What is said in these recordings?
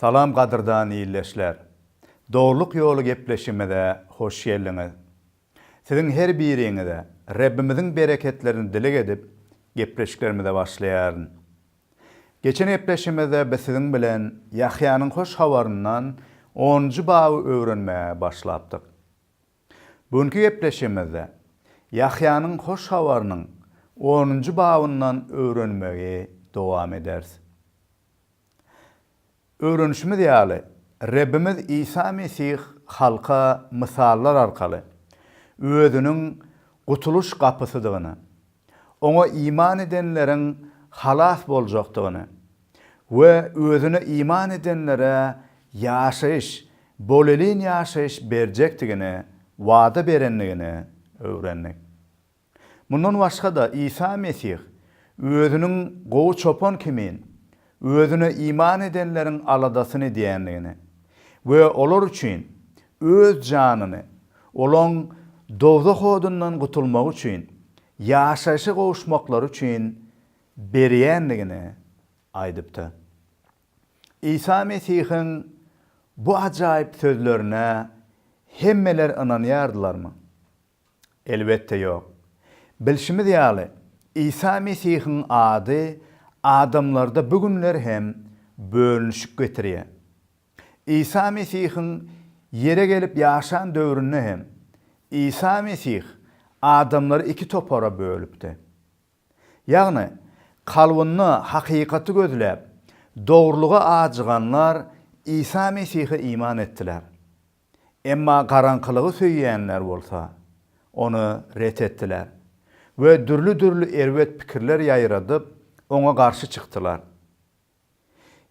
Salam gadyrdan ildeşler. Dogrylyk ýoly gepleşigimize hoş geldiňiz. Siziň her biriňize Rebbimiziň bereketlerini dileg edip gepleşiklerimize başlaýaryn. Geçen gepleşimizde biz siziň bilen Ýahýanyň hoş habaryndan onunjy baby öwrenmäge başlapdyk. Bu günki gepleşigimizde Ýahýanyň hoş habarynyň onunjy babyndan öwrenmegi dowam ederis. Öwrenişimiz ýaly, Rebbimiz Isa Mesih halka mysallar arkaly Özüniň gutulyş gapysydygyny, Oňa iman edenleriň halas boljakdygyny we Özüne iman edenlere ýaşaýyş, bolelin ýaşaýyş berjekdigini wada berendigini öwrendik. Mundan başga-da, Isa Mesih Özüniň gowy çopan kimin, Özüne iman edenleriň aladasyny edýändigini we olar üçin Öz janyny, olaň dowzah odundan gutulmagy üçin, ýaşaýşa gowuşmaklary üçin berýändigini aýdypdyr. Isa Mesihiň bu ajaýyp sözlerine hemmeler ynanýardylarmy? Elbetde ýok. Bilşimiz ýaly, Isa Mesihiň ady adamlarda bu günler hem bölünişik getirýär. Isa Mesihiň ýere gelip ýaşan döwründe hem, Isa Mesih adamlary iki topara bölüpdi. Ýagny, kalbynda hakykaty gözläp, dogrulyga ajyganlar Isa Mesihe iman etdiler. Emma garaňkylygy söýýänler bolsa, ony ret etdiler we dürli-dürli erbet pikirler ýaýradyp, oňa garşy çykdylar.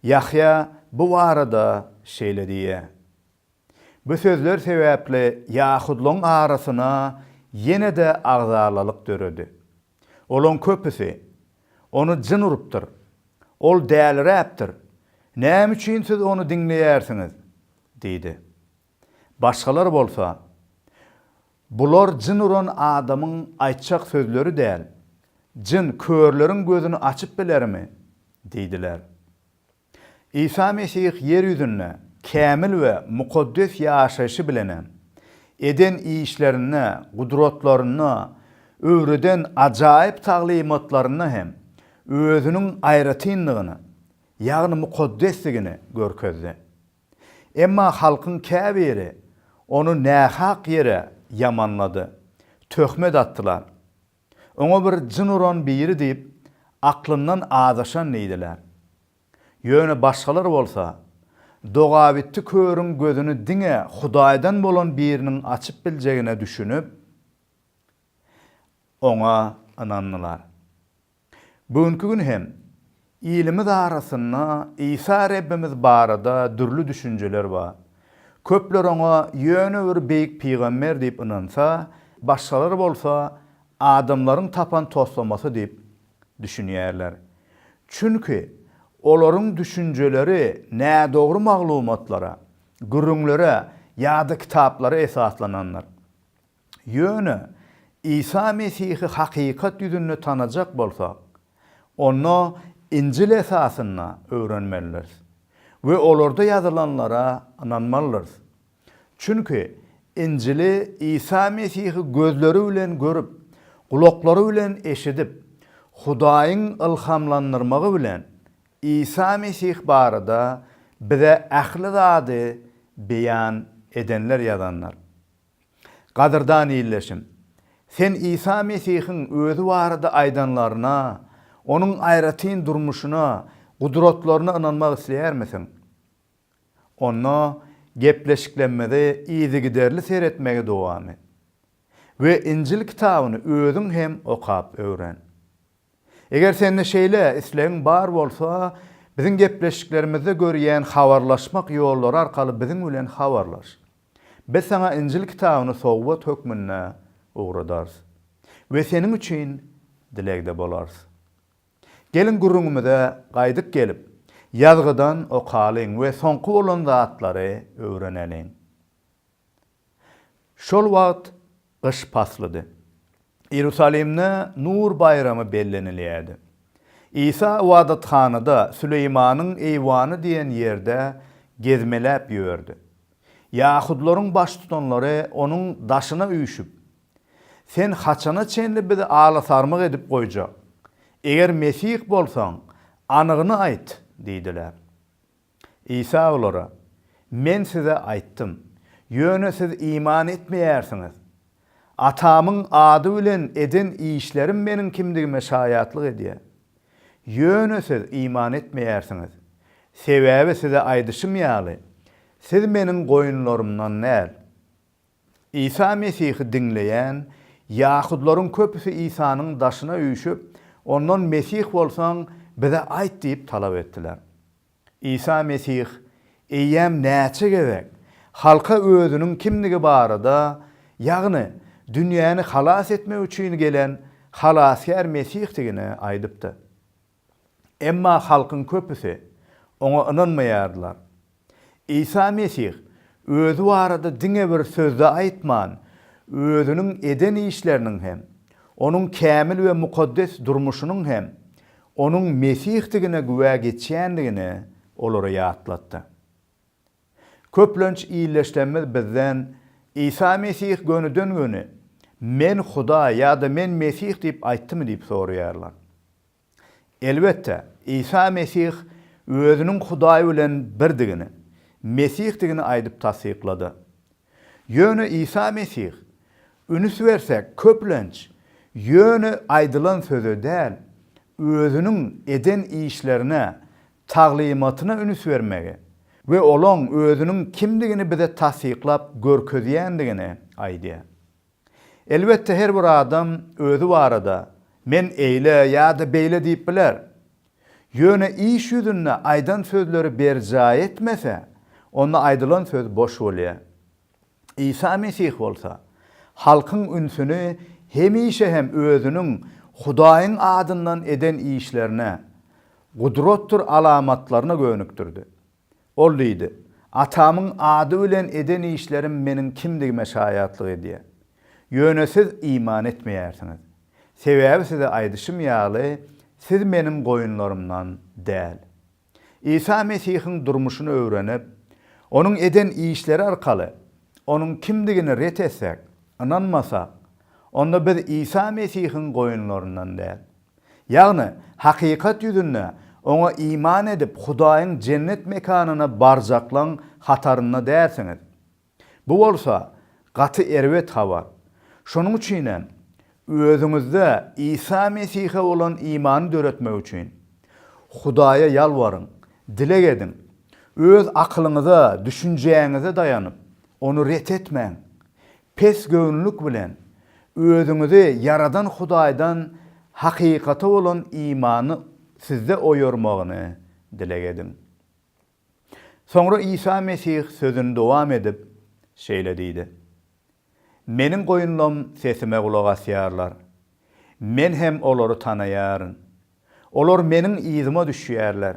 Ýahýa bu barada şeýle diýýär, Bu sözler sebäpli ýahudlaryň arasyna ýene-de agzalalyk döredi. Olaň köpüsi, Ony jyn urupdyr. Ol däliräpdir. Näme üçin siz ony diňleýärsiňiz? diýdi. Başgalar bolsa, Bular jyn uran adamyň aýtjak sözleri däl. Jyn körleriň gözüni açyp bilermi? diýdiler. Isa Mesih ýer ýüzünde kämil we mukaddes ýaşaýşy bilenem, eden işlerinde, gudratlarynda, öwreden ajaýyp taglymatlarynda hem özüniň aýratynlygyny, ýagny mukaddesligini görkezdi. Emma halkyň käbiri ony nähak ýere ýamanlady, töhmet atdylar. Oňa bir jyn uran biri diýip, aklyndan azaşan diýdiler. Ýöne başgalar bolsa, Dogabitdi körüň gözüni diňe Hudaýdan bolan biriniň açyp biljegine düşünip, oňa ynandylar. Bu günki gün hem Ilimiz arasynda Isa Rebbimiz barada dürli düşünjeler bar. Köpler oňa ýöne bir beýik pygamber diýip ynansa, başgalar bolsa adamlaryň tapan toslamasy diýip düşünýärler. Çünki olaryň düşünjeleri nädogry maglumatlara, gürrüňlere ýa-da kitaplara esaslanandyr. Ýöne Isa Mesihi hakykat ýüzünde tanajak bolsak, onda Injil esasynda öwrenmelidiris we olarda ýazylanlara ynanmalydyrs. Çünki Injili Isa Mesihi gözleri bilen görüp, gulaklary bilen eşidip, Hudaýyň ylhamlandyrmagy bilen Isa Mesih barada bize ähli zady beýan edenler ýazandyr. Gadyrdan ildeşim, sen Isa Mesihiň Özi barada aýdanlaryna, Onuň aýratyn durmuşyna, gudratlaryna ynanmak isleýärmisiň? Onda gepleşiklemmize yzygiderli seretmegi dowam et we Injil kitabyny özüň hem okap öwren. Eger sende şeýle islegiň bar bolsa, biziň gepleşiklerimizde görýän habarlaşmak ýollary arkaly biziň bilen habarlaş. Biz saňa Injil kitabyny sowgat hökmünde ugradarys we seniň üçin dilegde bolarys. Geliň gürrüňimize gaýdyp gelip, ýazgydan okalyň we soňky bolan zatlary öwreneliň. Şol wagt gyş paslydy. Iýerusalimde Nur baýramy bellenilýärdi. Isa ybadathanada, Süleýmanyň eýwany diýen ýerde gezmeläp ýördi. Ýahudylaryň baştutanlary onuň daşyna üýşüp, Sen haçana çenli bizi ala-sarmyk edip goýjak? Eger Mesih bolsaň, anygyny aýt! diýdiler. Isa olara, Men size aýtdym, ýöne siz iman etmeýärsiňiz. Atamyň ady bilen eden işlerim Meniň kimdigime şaýatlyk edýär. Ýöne siz iman etmeýärsiňiz. Sebäbi size aýdyşym ýaly, siz Meniň goýunlarymdan däl. Isa Mesihi diňleýän ýahudylaryň köpüsi Isanyň daşyna üýşüp, Ondan Mesih bolsaň, bize aýt diýip talap etdiler. Isa Mesih eýýäm näçe gezek halka Özüniň kimdigi barada, ýagny dünýäni halas etmek üçin gelen Halasgär Mesihdigini aýdypdy. Emma halkyň köpüsi Oňa ynanmaýardylar. Isa Mesih Özi barada diňe bir söz-de aýtman, Özüniň eden işleriniň hem, Onuň kämil we mukaddes durmuşynyň hem Onuň Mesihdigine güwä geçýändigini olara ýatlatdy. Köplenç illeşlerimiz bizden Isa Mesih gönüden-göni Men Hudaý ýa-da Men Mesih diýip aýtdymy diýip soraýarlar. Elbetde, Isa Mesih özüniň Hudaý bilen birdigini, Mesihdigini aýdyp tassyklady. Ýöne Isa Mesih, ünüs bersek, köplenç, ýöne aýdylan söze däl, özüniň eden işlerine, taglymatyna ünüs bermegi we olaň özüniň kimdigini bize tassyklap görkezýändigini aýdýar. Elbetde her bir adam özi barada men eýle ýa-da beýle diýip biler. Ýöne iş ýüzünde aýdan sözleri berjaý etmese, onda aýdylan söz boş bolýar. Isa Mesih bolsa, halkyň ünsüni hemişe hem özüniň Hudaýyň adyndan eden işlerine, gudratdyr alamatlaryna gönükdirdi. Ol diýdi, Atamyň ady bilen eden işlerim Meniň kimdigime şaýatlyk edýär. Ýöne siz iman etmeýärsiňiz. Sebäbi size aýdyşym ýaly, siz Meniň goýunlarymdan däl. Isa Mesihiň durmuşyny öwrenip, Onuň eden işleri arkaly Onuň kimdigini ret etseek, ynanmasak, onda biz Isa Mesihiň goýunlaryndan däl. Ýagny, hakykat ýüzünde, Oňa iman edip, Hudaýyň jennet mekanyna barjaklaň hatarynda dälsiňiz. Bu bolsa, gaty erbet habar. Şonuň üçin hem, özüňizde Isa Mesihe bolan imany döretmek üçin, Hudaýa ýalbaryň, dileg ediň. Öz akylyňyza, düşünjäňize daýanyp, Ony ret etmäň. Pesgöwünlik bilen özüňizi ýaradan Hudaýdan hakykata bolan imany sizde oýarmagyny dileg ediň. Soňra Isa Mesih sözüni dowam edip, şeýle diýdi, Meniň goýunlam sesime gulak asýarlar. Men hem olary tanaýaryn. Olar Meniň yzyma düşýärler.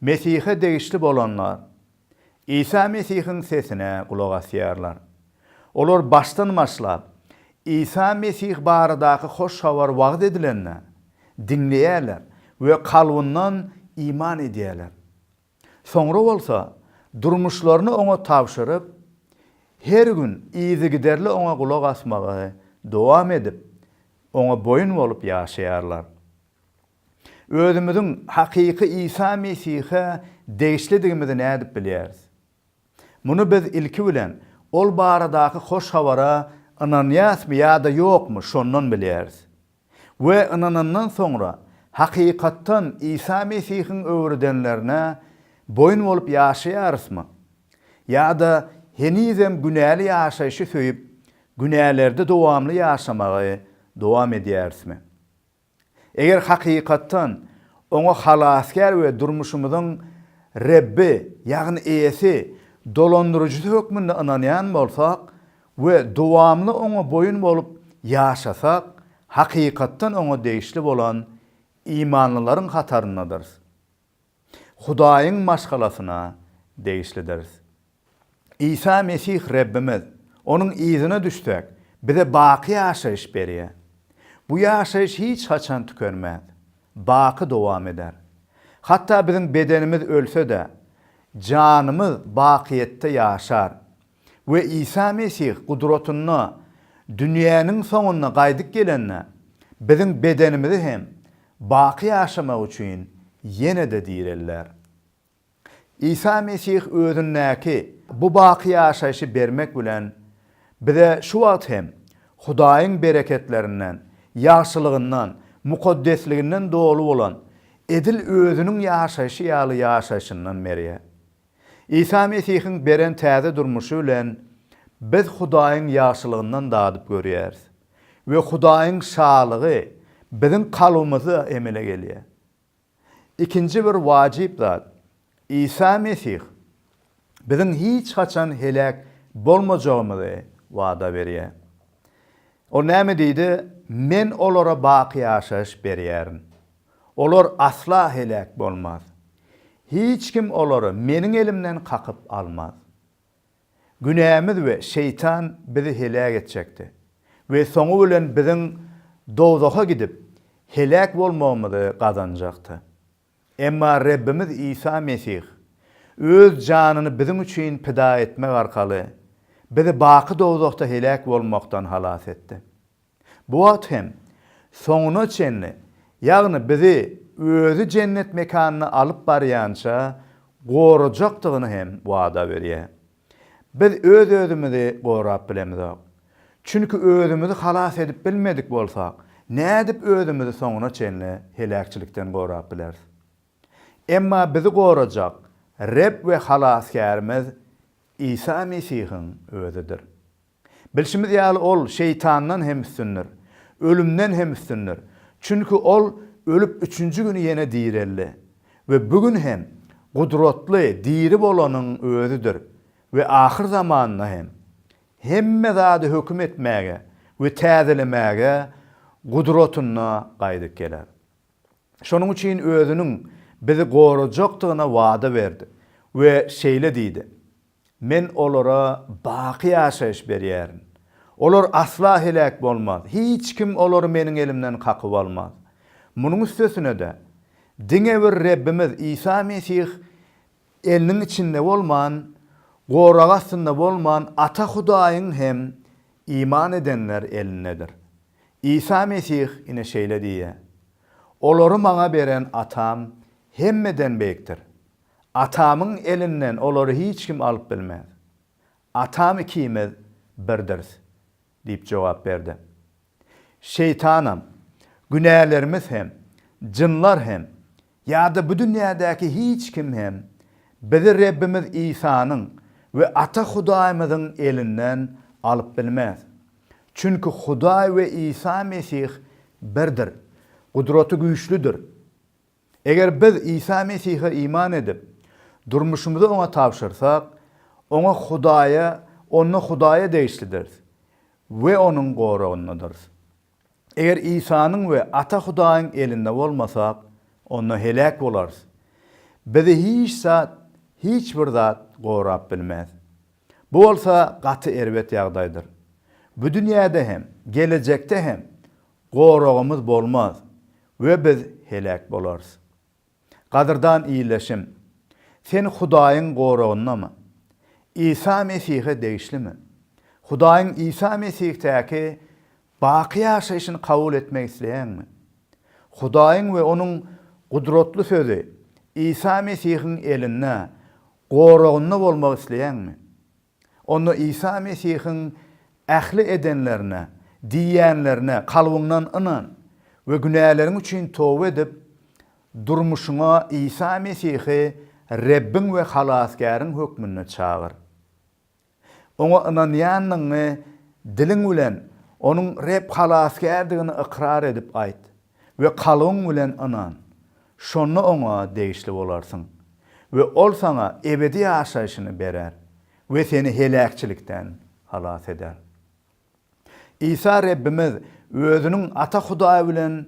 Mesihe degişli bolanlar Isa Mesihiň sesine gulak asýarlar. Olar başdan-başlap Isa Mesih baradaky hoş habar wagyz edilende, diňleýärler we kalbyndan iman edýärler. Soňra bolsa, durmuşlaryny oňa tabşyryp, her gün yzygiderli oňa gulak asmagy dowam edip, oňa boýun bolup ýaşaýarlar. Özümiziň hakyky Isa Mesihe degişlidigimizi nädip bilýäris? Muny biz ilki bilen ol baradaky hoş habara ynanýasmy ýa-da ýokmy, şondan bilýäris. We ynanandan soňra, hakykatdan Isa Mesihiň öwredenlerine boýun bolup ýaşaýarysmy? Ýa-da henizem günäli ýaşaýşy söýüp, günälerde dowamly ýaşamagy dowam edýärismi? Eger hakykatdan Oňa Halasgär we durmuşymyzyň Rebbi, ýagny Eýesi, Dolandyryjysy hökmünde ynanýan bolsak we dowamly Oňa boýun bolup ýaşasak, hakykatdan Oňa degişli bolan imanlylaryň hataryndadyrys. Hudaýyň maşgalasyna degişlidiris. Isa Mesih Rebbimiz, Onuň yzyna düşsek, bize baky ýaşaýyş berýär. Bu ýaşaýyş hiç haçan tükenmez, baky dowam eder. Hatda biziň bedenimiz ölse-de, janymyz bakyýetde ýaşar. we Isa Mesih gudratynda dünýäniň soňunda gaýdyp gelende, biziň bedenimizi hem baky ýaşamak üçin ýene-de direlder. Isa Mesih özündäki bu baky ýaşaýşy bermek bilen, bize şu wagt hem Hudaýyň bereketlerinden, ýagşylygyndan, mukaddesliginden doly bolan, edil Özüniň ýaşaýşy ýaly ýaşaýşyndan berýär. Isa Mesihiň beren täze durmuşy bilen biz Hudaýyň ýagşylygyndan dadyp görýäris we Hudaýyň şalygy biziň kalbymyzda emele gelýär. Ikinji bir wajyp zat, Isa Mesih biziň hiç haçan heläk bolmajagymyzy wada berýär. Ol näme diýdi, Men olara baky ýaşaýyş berýärin. Olar asla heläk bolmaz. Hiç kim olary Meniň elimden kakyp almaz. Günämiz we Şeýtan bizi heläk etjekdi we soňy bilen biziň dowzaha gidip, heläk bolmagymyzy gazanjakdy. Emma Rebbimiz Isa Mesih Öz janyny biziň üçin pida etmek arkaly bizi baky dowzahda heläk bolmakdan halas etdi. Bu wagt hem soňuna çenli, ýagny bizi Özi jennet mekanyna alyp barýança gorajakdygyny hem wada berýär. Biz öz-özümizi gorap bilemizok. Çünki özümizi halas edip bilmedik bolsak, nädip özümizi soňuna çenli heläkçilikden gorap bileris? Emma bizi gorajak Reb we Halasgärimiz Isa Mesihiň Özidir. Bilşimiz ýaly, ol şeýtandan hem üstündir, ölümden hem üstündir. Çünki ol ölüp üçünji güni ýene direldi we bu gün hem gudratly diri bolanyň özüdir we ahyr zamanda hem hemme zady höküm etmäge we täzelemäge gudratynda gaýdyp geler. Şonuň üçin özüniň bizi gorajakdygyna wada berdi we şeýle diýdi, Men olara baky ýaşaýyş berýärin. Olar asla heläk bolmaz, hiç kim olary Meniň elimden kakyp almaz. Munuň üstesine-de, diňe bir Rebbimiz Isa Mesih eliniň içinde bolman, gorag astynda bolman Ata Hudaýyň hem iman edenler elindedir. Isa Mesih ine şeýle diýýär, Olary Maňa beren Atam hemmeden beýikdir. Atamyň elinden olary hiç kim alyp bilmez. Atam ikimiz birdiris, diýip jogap berdi. Şeýtanam, günälerimiz hem, jynlar hem, ýa-da bu dünýädäki hiç kim hem bizi Rebbimiz Isanyň we Ata Hudaýymyzyň elinden alyp bilmez. Çünki Hudaý we Isa Mesih birdir, Gudraty güýçlüdir. Eger biz Isa Mesihe iman edip, durmuşymyzy Oňa tabşyrsak, Oňa Hudaýa, onda Hudaýa degişlidiris we Onuň goragyndadyrys. Eger Isanyň we Ata Hudaýyň elinde bolmasak, onda heläk bolarys. Bizi hiç zat, hiç bir zat gorap bilmez. Bu bolsa gaty erbet ýagdaýdyr. Bu dünýäde hem, gelejekde hem Goragymyz bolmaz we biz heläk bolarys. Gadyrdan ildeşim, sen Hudaýyň goragyndamy? Isa Mesihe degişlimi? Hudaýyň Isa Mesihdäki baky ýaşaýşyny kabul etmek isleýäňmi? Hudaýyň we Onuň gudratly Sözi, Isa Mesihiň elinde, goragynda bolmak isleýäňmi? Onda Isa Mesihiň ähli edenlerine, diýýänlerine kalbyňdan ynan we günäleriň üçin toba edip, durmuşyňa Isa Mesihi Rebbiň we Halasgäriň hökmünde çagyr. Oňa ynanýandygyňy diliň bilen Onuň Reb Halasgärdigini ykrar edip aýt. We kalbyň bilen ynan, şonda Oňa degişli bolarsyň we Ol saňa ebedi ýaşaýşyny berer we seni heläkçilikden halas eder. Isa Rebbimiz Özüniň Ata Hudaý bilen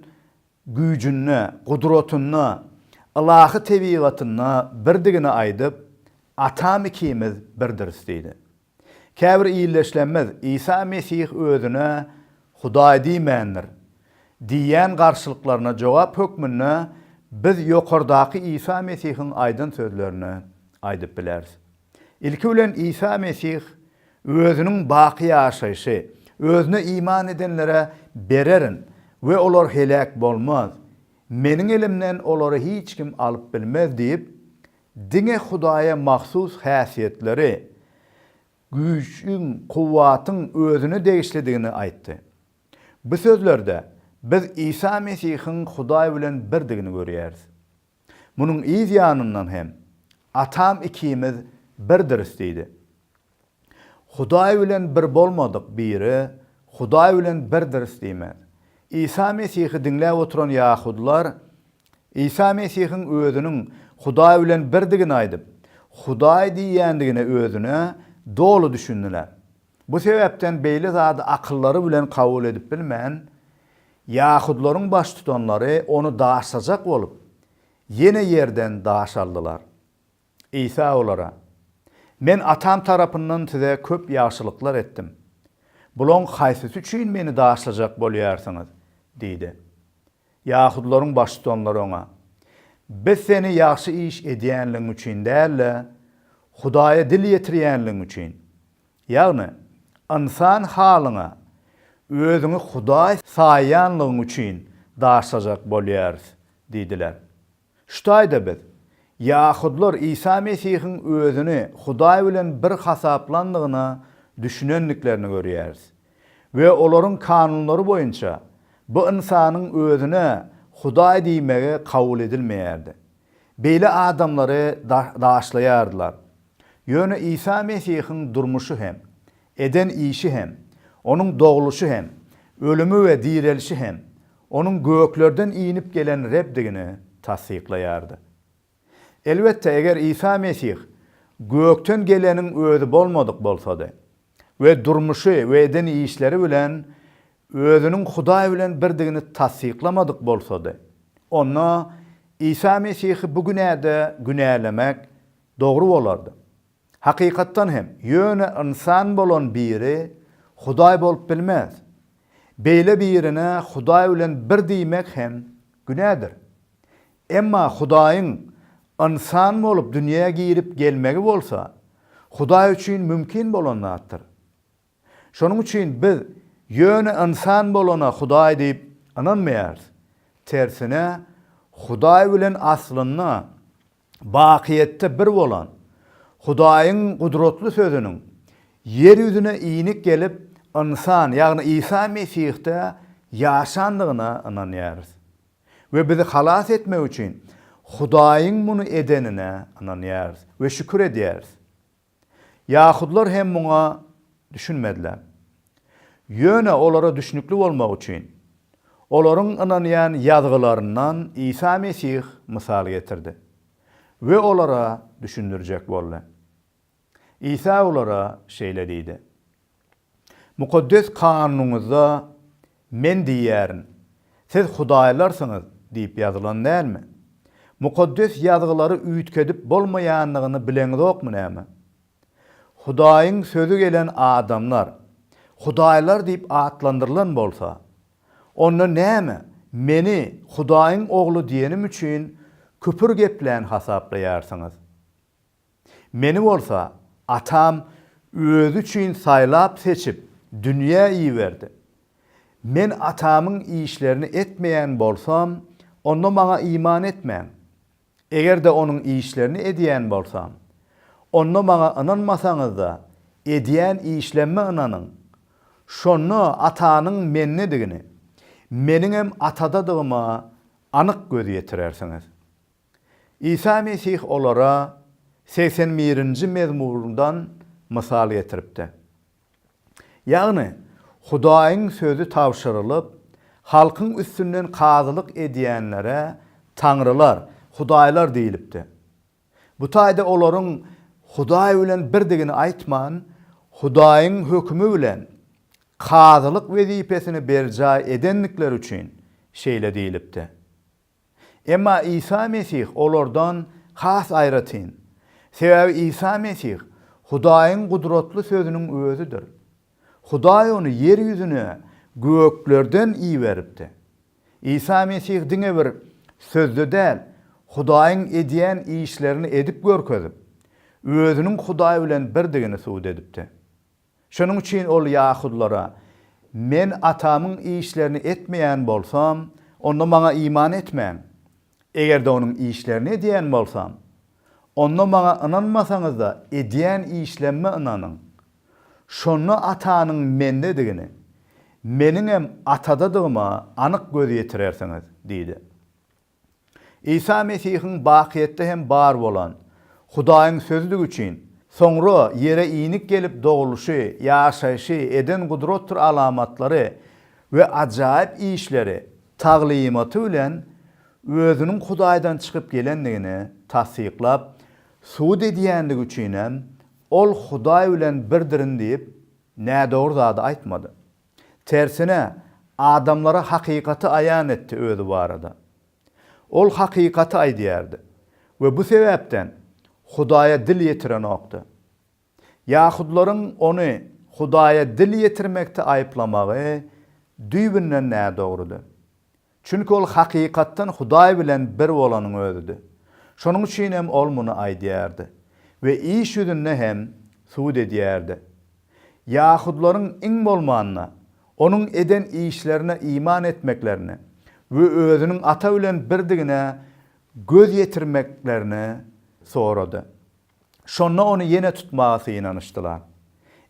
güýjünde, gudratynda, ylahy tebigatynda birdigini aýdyp, Atam ikimiz birdiris diýdi. Käbir illeşlemez Isa Mesih özüne Hudaý diýmändir diýýän garşylyklaryna jogap hökmünde biz ýokardaky Isa Mesihiň aýdan sözlerini aýdyp bileris. Ilki bilen Isa Mesih özüniň baky ýaşaýşy, Özüne iman edenlere bererin we olar heläk bolmaz, Meniň elimden olary hiç kim alyp bilmez diýip, Diňe Hudaýa mahsus häsiýetleri, güýçiň, kuwwatyň Özüne degişlidigini aýtdy. Bu sözlerde biz Isa Mesihiň Hudaý bilen birdigini görýäris. Munuň yz ýanyndan hem, Atam ikimiz birdiris diýdi. Hudaý bilen bir bolmadyk biri Hudaý bilen birdiris diýmez. Isa Mesihi diňläp oturan ýahudylar Isa Mesihiň özüniň Hudaý bilen birdigini aýdyp, Hudaý diýýändigine özüne doly düşündiler. Bu sebäpden beýle zady akyllary bilen kabul edip bilmän, ýahudylaryň baştutanlary ony daşlajak bolup, ýene ýerden daş aldylar. Isa olara, Men Atam tarapyndan size köp ýagşylyklar etdim. Bulaň haýsysy üçin Meni daşlajak bolýarsyňyz? diýdi. Ýahudylaryň baştutanlary Oňa, Biz Seni ýagşy iş edýänligiň üçin däl-de, Hudaýa dil ýetirýänligiň üçin, ýagny ynsan halyňa Özüňi Hudaý saýýanlygyň üçin daşlajak bolýarys diýdiler. Şu taýda biz, ýahudlar Isa Mesihiň özüni Hudaý bilen bir hasaplandygyna düşünendiklerini görýäris we olaryň kanunlary boýunça bu ynsanyň özüne Hudaý diýmegi kabul edilmeýärdi. Beýle adamlary daşlaýardylar. Ýöne Isa Mesihiň durmuşy hem, Eden işi hem, Onuň dogluşy hem, ölümi we direlişi hem Onuň göklerden inip gelen Rebdigini tassyklaýardy. Elbetde, eger Isa Mesih gökden geleniň Özi bolmadyk bolsady we durmuşy we eden işleri bilen Özüniň Hudaý bilen birdigini tassyklamadyk bolsady, onda Isa Mesihi bu günäde günälemek dogry bolardy. Hakykatdan hem, ýöne ynsan bolan biri Hudaý bolup bilmez. Beýle birine Hudaý bilen bir diýmek hem günädir. Emma Hudaýyň ynsan bolup dünýä girip gelmegi bolsa, Hudaý üçin mümkin bolan zatdyr. Şonuň üçin biz ýöne ynsan bolana Hudaý diýip ynanmaýarys. Tersine, Hudaý bilen aslynda bakyýetde bir bolan Hudaýyň gudratly Sözüniň ýer ýüzüne inik gelip, ynsan, ýagny Isa Mesihde ýaşandygyna ynanýarys we bizi halas etmek üçin Hudaýyň muny edenine ynanýarys we şükür edýäris. Ýahudlar hem muňa düşünmediler. Ýöne olara düşnükli bolmak üçin, olaryň ynanýan Ýazgylaryndan Isa Mesih mysal getirdi we olara düşündirjek boldy. Isa olara şeýle diýdi, Mukaddes Kanunyňyzda, Men diýýärin, siz hudaýlarsyňyz diýip ýazylan dälmi? Mukaddes Ýazgylary üýtgedip bolmaýandygyny bileňizokmy näme? Hudaýyň Sözi gelen adamlar hudaýlar diýip atlandyrylan bolsa, onda näme Meni Hudaýyň Ogly diýenim üçin küpür geplän hasaplaýarsyňyz? Meni bolsa atam özi üçin saýlap-seçip dünýä iberdi. Men atamyň işlerini etmeýän bolsam, onda maňa iman etmäň. Eger-de onuň işlerini edýän bolsam, onda maňa ynanmasaňyz-da, edýän işlemme ynanyň. Şonda Atanyň mendedigini, meniňem Atadadygyma anyk göz ýetirersiňiz. Isa Mesih olara segsen birinji mezmurdan mysal getiripdi. Ýagny, Hudaýyň sözi tabşyrylyp, halkyň üstünden kazylyk edýänlere taňrylar, hudaýlar diýlipdi. Bu taýda olaryň Hudaý bilen birdigini aýtman, Hudaýyň hökümi bilen kazylyk wezipesini berjaý edendikleri üçin şeýle diýlipdi. Emma Isa Mesih olardan has aýratyn. Sebäbi Isa Mesih Hudaýyň gudratly Sözüniň Özüdir. Hudaý Ony ýer ýüzüne göklerden iberipdi. Isa Mesih diňe bir sözde däl, Hudaýyň edýän işlerini edip görkezip, Özüniň Hudaý bilen birdigini subut edipdi. Şonuň üçin ol ýahudylara, Men Atamyň işlerini etmeýän bolsam, onda maňa iman etmäň. Eger-de onuň işlerini edýän bolsam, onda maňa ynanmasaňyz-da, edýän işlemime ynanyň. Şonda Atanyň mendedigini, meniňem Atadadygyma anyk göz ýetirersiňiz diýdi. Isa Mesihiň bakyýetde hem bar bolan, Hudaýyň Sözlügi üçin, soňra ýere inik gelip dogluşy, ýaşaýşy, eden gudratdyr alamatlary we ajaýyp işleri, taglymaty bilen Özüniň Hudaýdan çykyp gelendigini tassyklap, subut edýändigi üçinem, Ol Hudaý bilen birdirin diýip, nädogry zady aýtmady. Tersine, adamlara hakykaty aýan etdi özi barada. Ol hakykaty aýdýardy we bu sebäpden Hudaýa dil ýetirenokdy. Ýahudylaryň ony Hudaýa dil ýetirmekde aýyplamagy düýbünden nädogrudy. Çünki ol hakykatdan Hudaý bilen bir bolanyň özüdi. Şonuň üçin hem ol muny aýdýardy we iş ýüzünde hem sud edýärdi. Ýahudylaryň iň bolmanda, onuň eden işlerine iman etmeklerini we özüniň Ata bilen birdigine göz ýetirmeklerini sorady. Şonda ony ýene tutmaga synanyşdylar.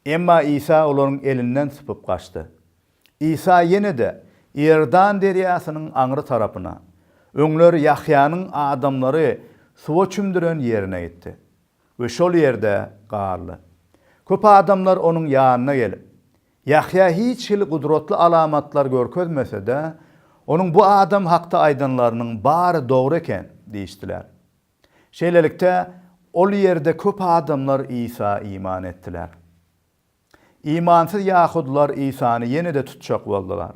Emma Isa olaryň elinden sypyp gaçdy. Isa ýene-de Iordan derýasynyň aňry tarapyna, öňler Ýahýanyň adamlary suwa çümdüren ýerine gitdi we şol ýerde galdy. Köp adamlar onuň ýanyna gelip, Ýahýa hiç hili gudratly alamatlar görkezmese-de, onuň bu adam hakda aýdanlarynyň bary dogry eken diýişdiler. Şeýlelikde, ol ýerde köp adamlar Isa iman etdiler. Imansyz ýahudylar Isany ýene-de tutjak boldular.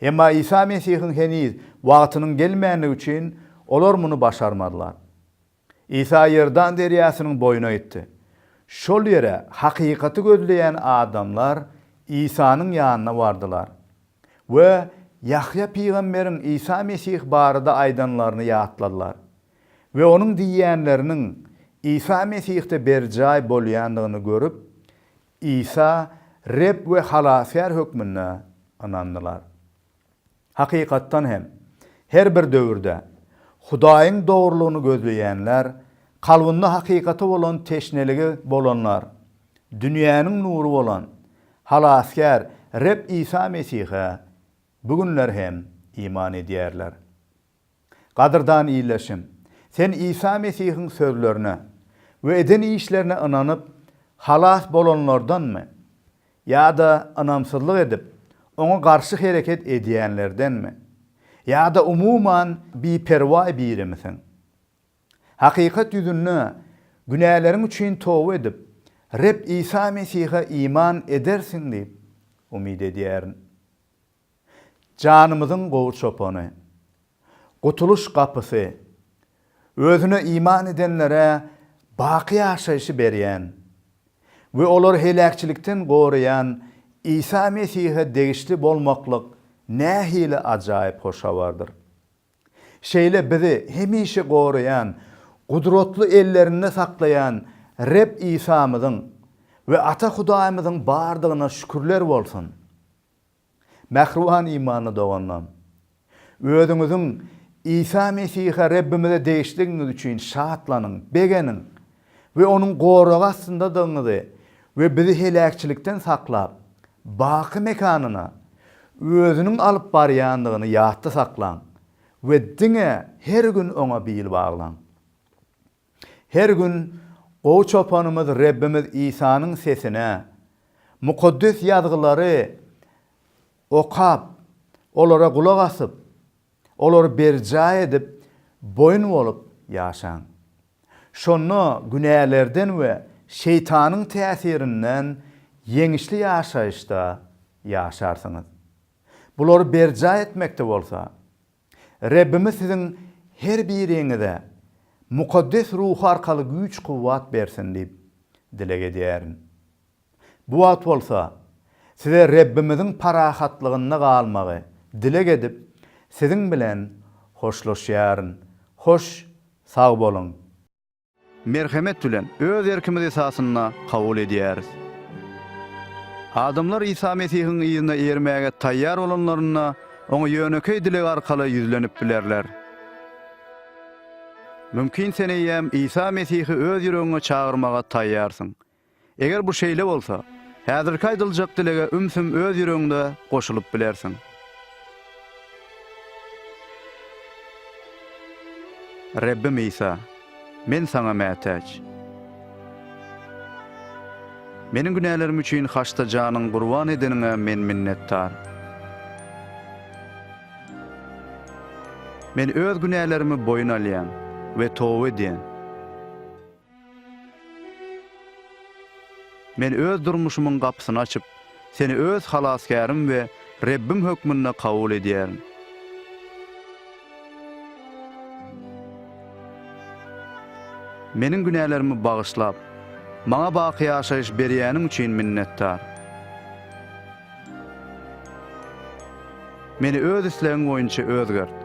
Emma Isa Mesihiň heniz wagtynyň gelmändigi üçin, olar muny başarmadylar. Isa Iordan derýasynyň boýuna gitdi. Şol ýere hakykaty gözleýän adamlar Isanyň ýanyna bardylar we Ýahýa pygamberiň Isa Mesih barada aýdanlaryny ýatladylar. we onuň diýýänleriniň Isa Mesihde berjaý bolýandygyny görüp, Isa Reb we Halasgär hökmünde ynandylar. Hakykatdan hem, her bir döwürde Hudaýyň dogrulygyny gözleýänler, kalbynda hakykata bolan teşneligi bolanlar dünýäniň nury bolan Halasgär Reb Isa Mesihe bu günler hem iman edýärler. Gadyrdan ildeşim, sen Isa Mesihiň sözlerine we eden işlerine ynanyp, halas bolanlardanmy ýa-da ynamsyzlyk edip, oňa garşy hereket edýänlerdenmi? Ýa-da umuman biperwaý birimisiň? Hakykat ýüzünde, günäleriň üçin toba edip, Reb Isa Mesihe iman edersiň diýip umyt edýärin. Janymyzyň gowy çopany. Gutulyş gapysy. Özüne iman edenlere baky ýaşaýşy berýän we olary heläkçilikden goraýan Isa Mesihe degişli bolmaklyk nähili ajaýyp hoş habardyr! Şeýle bizi hemişe goraýan, gudratly ellerinde saklaýan Reb Isamyzyň we Ata Hudaýymyzyň bardygyna şükürler bolsun! Mähriban imanly doganlarym! Özüňiziň Isa Mesihe Rebbimize degişligiňiz üçin şatlanyň, begeniň we Onuň goragy astyndadygyňyzy we bizi heläkçilikden saklap, baky mekanyna Özüniň alyp barýandygyny ýatda saklaň we diňe her gün Oňa bil baglaň. Her gün Gowy Çopanymyz Rebbimiz Isanyň sesine, Mukaddes Ýazgylary okap, olara gulak asyp, olary berjaý edip, boýun bolup ýaşaň. Şonda günälerden we Şeýtanyň täsirinden ýeňişli ýaşaýyşda ýaşarsyňyz. Bulary berjaý etmekde bolsa, Rebbimiz siziň her biriňize mukaddes ruhy arkaly güýç-kuwwat bersin diýip dileg edýärin. Bu wagt bolsa size Rebbimiziň parahatlygynda galmagy dileg edip, siziň bilen hoşlaşýaryn. Hoş sag boluň! Merhemet bilen, öz erkimiz esasynda kabul edýäris. Adamlar Isa Mesihiň yzyna eýermäge taýýar bolanlarynda, Oňa ýönekeý dileg arkaly ýüzlenip bilerler. Mümkin sen eýýäm Isa Mesihi öz ýüregiňe çagyrmaga taýýarsyň. Eger bu şeýle bolsa, häzirki aýdyljak dilege ümsüm öz ýüregiňde goşulyp bilersiň. Rebbim Isa, men Saňa mätäç. Meniň günälerim üçin haçda janyň gurban edeniňe men minnetdar. Men öz günälerimi boýun alýan we toba edýän. Men öz durmuşymyň gapysyny açyp, Seni öz Halasgärim we Rebbim hökmünde kabul edýärin. Meniň günälerimi bagyşlap, maňa baky ýaşaýyş berýäniň üçin minnetdar. Meni öz islegiň boýunça özgert.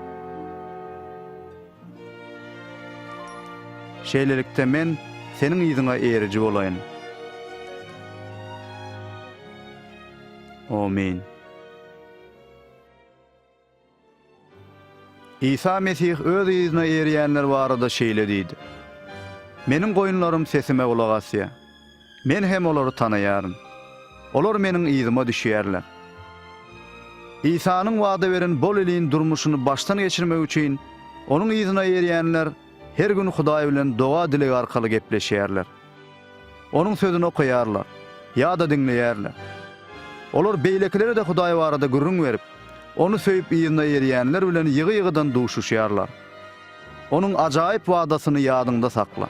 Şeýlelikde, men Seniň yzyňa eriji bolaýyn. Amin. Isa Mesih Öz yzyna erýänler barada şeýle diýdi, Meniň goýunlarym sesime gulak asýar. Men hem olary tanaýaryn. Olar Meniň yzyma düşýärler. Isanyň wada beren bol iliň durmuşyny başdan geçirmek üçin Onuň yzyna erýänler her gün Hudaý bilen doga-dileg arkaly gepleşýärler. Onuň Sözüni okaýarlar ýa-da diňleýärler. Olar beýlekilere-de Hudaý barada gürrüň berip, Ony söýüp yzyna erýänler bilen ýygy-ýygydan duşuşýarlar. Onuň ajaýyp wadasyny ýadyňda sakla.